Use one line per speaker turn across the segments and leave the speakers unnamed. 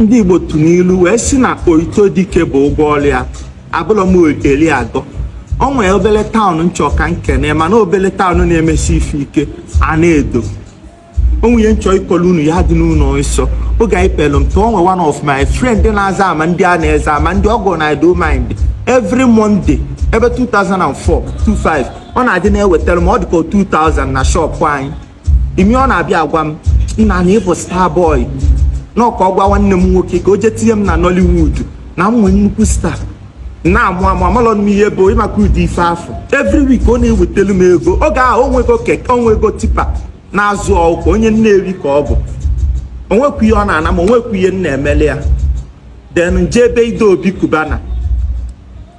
ndị Igbo tụ n'ilu wee si na otito dike bụ ụgwọ ọrụ ya abụlọ m eli agọ o nwee obele taụn m chọ ka m kene mana obele taụn na-emesi ife ike Anaedo o nwe ihe m chọ ịkọlụ unu ya dị n'ụlọ nsọ oge anyị pelụ mpe o nwe one of my friend na-aza Amandịanaeze Amandị ọgọ na do mind every Monday ebe 2004 25 ọ na-adị na-ewetara m ọ dịka 2000 na shọpụ anyị imi ọ na-abịa agwa m nna na ị bụ star boy n'Ọka ọ gwa nwanne m nwoke ka o jee tinye m na Nollywood na m nwee nnukwu star na-amụ amụ amalọ m ihe bụ ị maka ụdị ife afụ every week ọ na-ewetelu m ego oge ahụ o nwego keke o nwego tipa na-azụ ọkụkọ onye Nnewi ka ọ bụ o nwekwu ihe ọ na-ana m o nwekwu ihe m na-emeli ya then m je be Ide Obi Cubana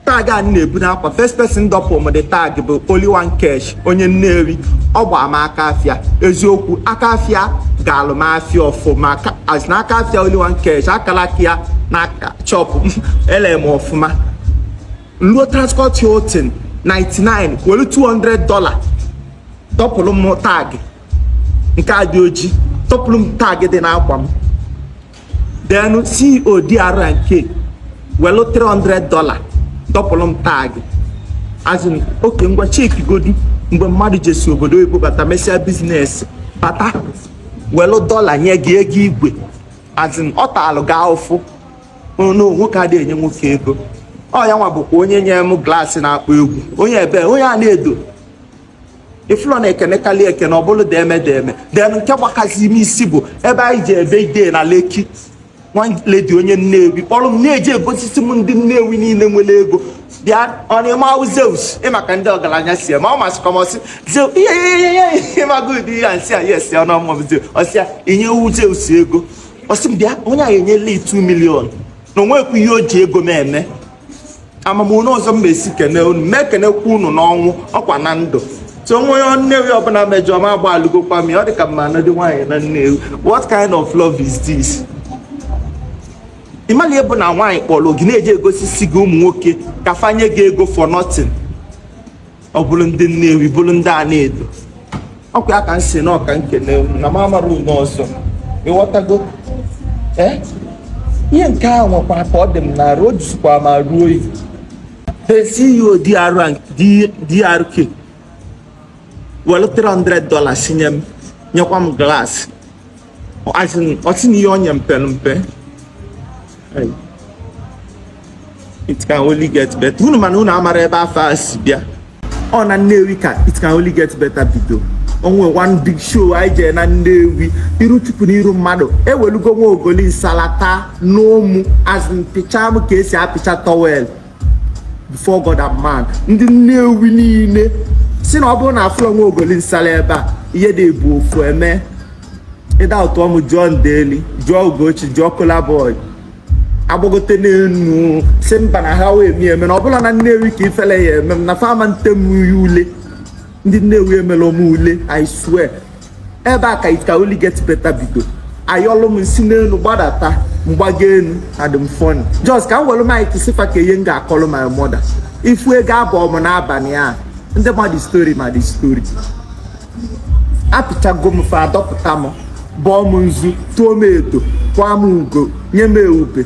tag a na-ebu n'akwa first person dọpụ m the tag bụ Only One Kesh onye Nnewi ọ gbaa m aka afịa eziokwu aka afịa gaalụ m afịa ọfụma as na aka afịa Only One Kesh akala aka ya na chọpụ m ele m ọfụma luo Transcorp Hilton 99 were 200 dollar dọpụrụ m tag nke a dị oji dọpụrụ m tag dị n'akwa m then CEO DRNK welu 300 dollar dọpụrụ m tag as in oke ngwa cheki godi mgbe mmadụ jesi obodo oyibo bata mesịa biznes bata welu dọla nye gị ego igwe as in ọ taalụ gị ahụfụ na nwoke ada enye nwoke ego ọ ya nwa bụkwa onye nye m glaasị na-akpọ egwu onye ebe onye Anaedo ị fụlụ na ekenekalị ekene ọ bụrụ deme deme then nke gbakazi m isi bụ ebe anyị je be Ide na Lekki one lady onye Nnewi kpọrọ m na-eji egosisi m ndị Nnewi niile nwere ego bịa ọnịmawụ zeus ị maka ndị ọgaranya si ma ọ masị kọmọsị zeus ihe ihe ihe ihe ị maka ụdị ihe a m sị ya yes ya ọnụọmụm zeus ọ sị ya enyewu zeus ego ọ sị m bịa onye a enyela 2 million na o nwekwu ihe o ji ego m eme amamụna ụzọ m ma-esi kene unu ma ekenekwa unu n'ọnwụ ọkwa na ndụ so o nwee onye Nnewi ọbụla mejọ m agbaalụgokwa m ya ọ dị ka m ma-anụdị nwaanyị na Nnewi what kind of love is this ị malị ihe bụ na nwaanyị kpọrọ gị na-eji egosisi gị ụmụ nwoke ka fa nye gị ego for nothing ọ bụrụ ndị Nnewi bụrụ ndị Anaedo ọkwa ya ka m si na ọ ka m kene na m amara unu ọzọ ịghọtago ee eh? ihe nke a nwekwa ka ọ dị m n'arụ o jizikwa m arụ oyi CEO DRK were 300 dollars nye m nyekwa m glaasị ọtị na ihe onye mpe mpe it can only get better unu mana unu amara ebe afa a si bịa ọ na Nnewi ka it can only get better bido o nwe one big show anyị jee na Nnewi iru Chukwu na iru mmadụ ewelugo nwa ogoli nsala ta n'ụmụ azụ pịcha m ka e si apịcha towel before God and man ndị Nnewi niile sị na ọ bụrụ na afụlọ nwa ogoli nsala ebe a ihe dị ebu ofu eme ịda ụtọ m jụọ Ndeli jụọ Ugochi jụọ Kolaboy agbagote n'enu sị mba na ha wee mi eme na ọ bụ na Nnewi ka ifele ya eme m na fa ma ntem ya ule ndị Nnewi emela m ule I swear ebe a ka it can only get better bido ayọlụ m si n'elu gbadata m gbago enu adị m funny just ka m welu mic sị fa ka ihe m ga-akọlụ my mother ifu ego abụọ m n'abalị a ndị ma the story ma the story apịchago m fa adọpụta m bọọ m nzu tụọ m edo kwaa m ugo nye m ewube